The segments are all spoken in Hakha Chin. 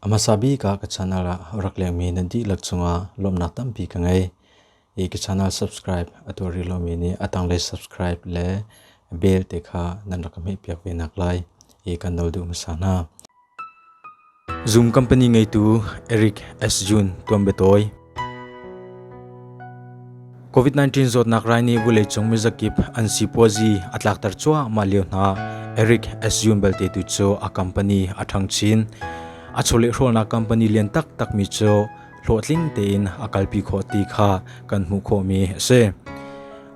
A hmasa bik ah ka channel ah rak lengmi nan dihlak cungah lawmnak tampi ka ngei. I ka channel subscribe a tuari lomi nih a tanglei subscribe le bell te kha nan rak ka hmehpiak ve nak lai i kan no duh hmasa hna. Zoom company ngeitu Eric Asjun tuan betawi. COVID-19 zawtnak rai nih vuleicung mizakip an sipuazi a tlakter cuahmah lio hna Eric Asjun belte tu cu a company a ṭhang chin. A chawlehrolnak company lian taktak mi cu hlawhtling tein a kalpi khawh ti kha kan hmuh khawhmi a si.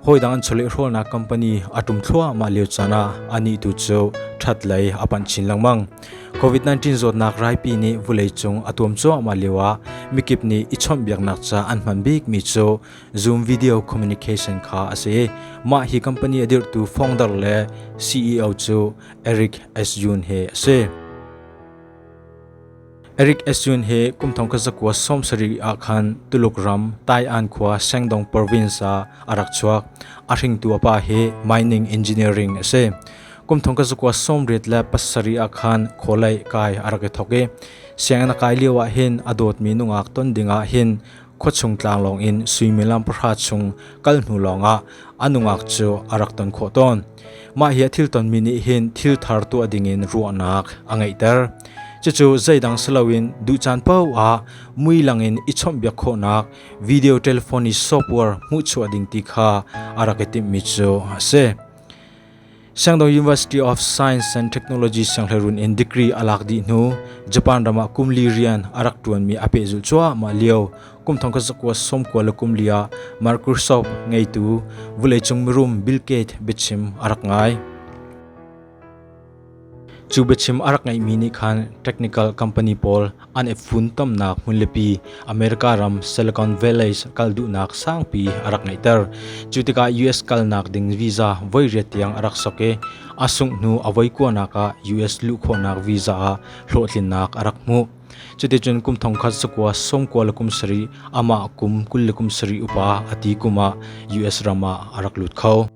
hawidang an chawlehhrawlnak company a tum thluahmah lio caan ah anih tu cu that lei a panh chin lengmang covid-19 zawtnak raipi nih vulei cung a tuam cuahmah lio ah mikip nih i chawmhbiaknak ca an hman bikmi cu zoom video communication kha a si mah hi company a dirhtu founder le ceo cu eric asyun he a si Eric Esun he kum thong ka zakua som sarih ah khan Tuluk ram Taian khua Sengdong province ah a rak chuak. A hringtu a pa hi mining engineering a si. Kum thong ka zakua som riat le pasarih ah khan kholei kai a rak i thok i sianginn a kai lio ah hin a dawtmi nungak ton ding ah hin Khuachung tlanglawng in suimilam pahra chung kal hnu lawngah a nungak cu a rak ton khawh tawn. Mah hi a thiltonmi nih hin thil thar tuah dingin ruahnak a ngeihter. Cucu zeidang si loin duh caan paoh ah mui langin i chawmhbiak khawhnak video telephone i software hmuhchuah ding ti kha a rak i timhmi cu a si. Sangdo University of Science and Technology sianghleirun in degree a lak dih hnu Japan ram ah kum li rian a rak ṭuan mi a pehzulh cuahmah lio kum thong zakua somkua le kum li ah Microsoft ngeitu vuleicung mirum Bill Gates biachim a rak ngai. Cu biachim a rak ngeih mi nih khan technical company pawl An i funtomnak hmunlipi America ram Silicon Valley kal duhnak sangpi a rak ngeihter. Cu tikah US kalnak ding visa voi riat tiang a rak sok i a sungh hnu a voi kuanak ah US luhkhawhnak visa ah hlawhtlinnak a rak hmuh. Cuticun kum thongkhat sakua som kua le kum sarih amah kum kul le kum sarih upa a ti kum ah US ram ah a rak lut kho.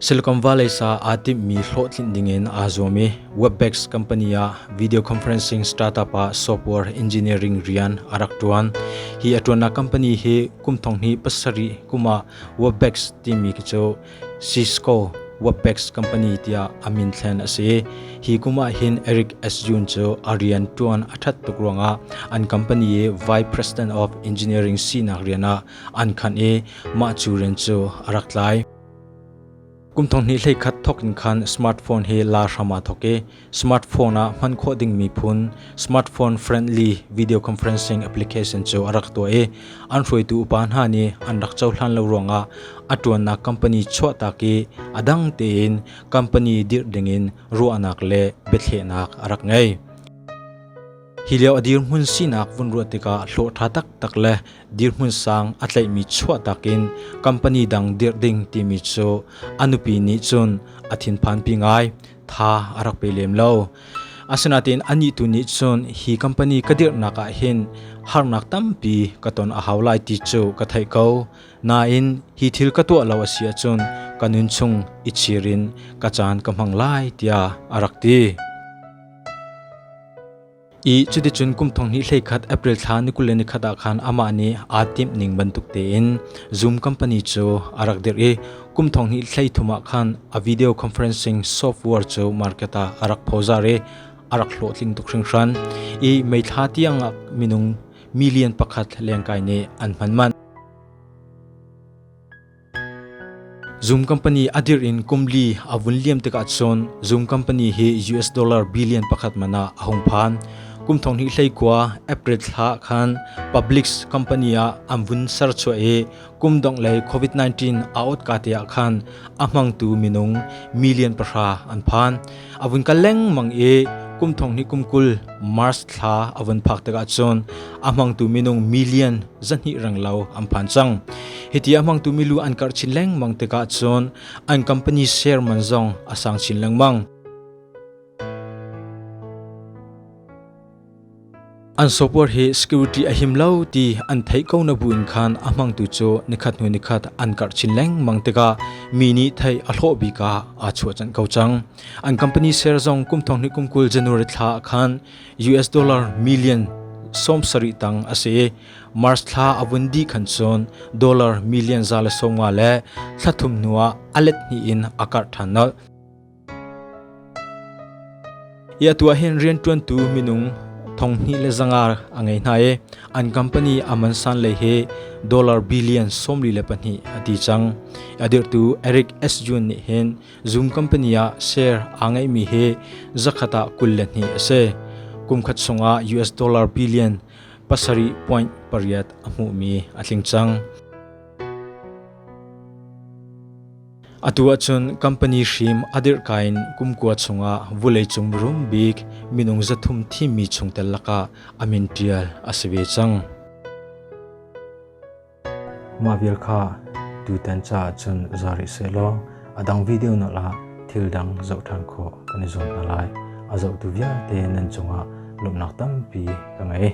Silicon Valley sa aa timhmi hlawhtlin dingin aa zuam i Webex company ah video conferencing startup ah software engineering rian a rak ṭuan. Hi a ṭuannak company hi kum thong hnih pasarih kum ah Webex timi khi cu Cisco Webex company tiah a min thlen a si. Hi kum ah hin Eric Asjun cu a rian ṭuan a ṭhat tuk ruangah an company i Vice President of Engineering sinak rian ah an khan i mah cu rian cu a rak tlai. Kum thong hnih hlei khat thok in khan smartphone hi la hram ah thok i smartphone ah hman khawh dingmi phun smartphone friendly video conferencing application cu a rak tuah i an hruaitu upa hna nih an rak cohlan lo ruangah a ṭuannak company chuahtak i a dang tein company dirh dingin ruahnak le biathlehnak a rak ngei. Hi lio a dirhmun sinak vun ruah tikah hlawh ṭha taktak le dirhmun sang a tleihmi chuahtak in company dang dirh ding timi cu a nupi nih cun a thinphanpi ngai. Tha a rak pe lem lo. Asinain anih tu nih cun hi company ka dirhnak ah hin harnak tampi ka ton a hau lai ti cu ka theih ko. Nain hi thil ka tuah lo a si ahcun ka nun chung i chir in ka caan ka hmang lai tiah a rak ti. I cuticun kum thong hnih hlei khat April thla nikul le nikhat ah khan amah nih aa timh ning bantuk tein Zoom company cu a rak dirh i kum thong hnih hlei thum ah khan a video conferencing software cu market ah a rak phozar i a rak hlawhtling tuk hringhran i meithla tiang ah minung million pakhat lengkai nih an hman manh Zoom company a dir in kum li a vun liam tikah cun Zoom company hi US dollar billion pakhat man ah a hung phan. Kum thong hnih hlei kua April thla khan public company ah an vun ser chuah i kum dong lei COVID-19 a ot ka te ah khan a hmangtu minung million pahra an phan. a vun kal lengmang i kum thong hnih kum kul Mars thla a vun phak tikah cun a hmangtu minung million zahnih rang lo an phan cang hiti a hmangtu milu an karh chin lengmang tikah cun an company share man zong a sang chin lengmang An software hi security a him lo ti an theih ko na bu in khan a hmangtu cu nikhat hnu nikhat an karh chin lengmang tikah mi nih thei a hlawh bika aa chuah chan ko cang. An company share zong kum thong hnih kum kul January thla ah khan US dollar million som sarih tang a si. March thla a vun di khan cun dollar million za le sawmnga le thlathum hnu ah a let hnih in a karh than nolh. Hi atu ah hin rianṭuantu minung thonghnih le zanga a ngei hna i an company aman san lei hi dollar billion sawmli le pahnih a ti cang. A dirhtu Eric Asjun nih hin Zoom company ah share aa ngeihmi hi zakhat ah kul le hnih a si. Kumkhat chungah US dollar billion pasarih point pariat a hmuhmi a tling cang. Atu ahcun company hrim a dirhka in kumkua chungah vuleicung mirum bik minung zathum thimmi chungtel lakah a min ṭial a si ve cang. Mah vial kha tutan caah cun za rih sehlaw a dang video na la thil dang zoh ṭhan khawh kan i zuam hna lai. A zohtu vialte nan cungah lawmhnak tampi ka ngei.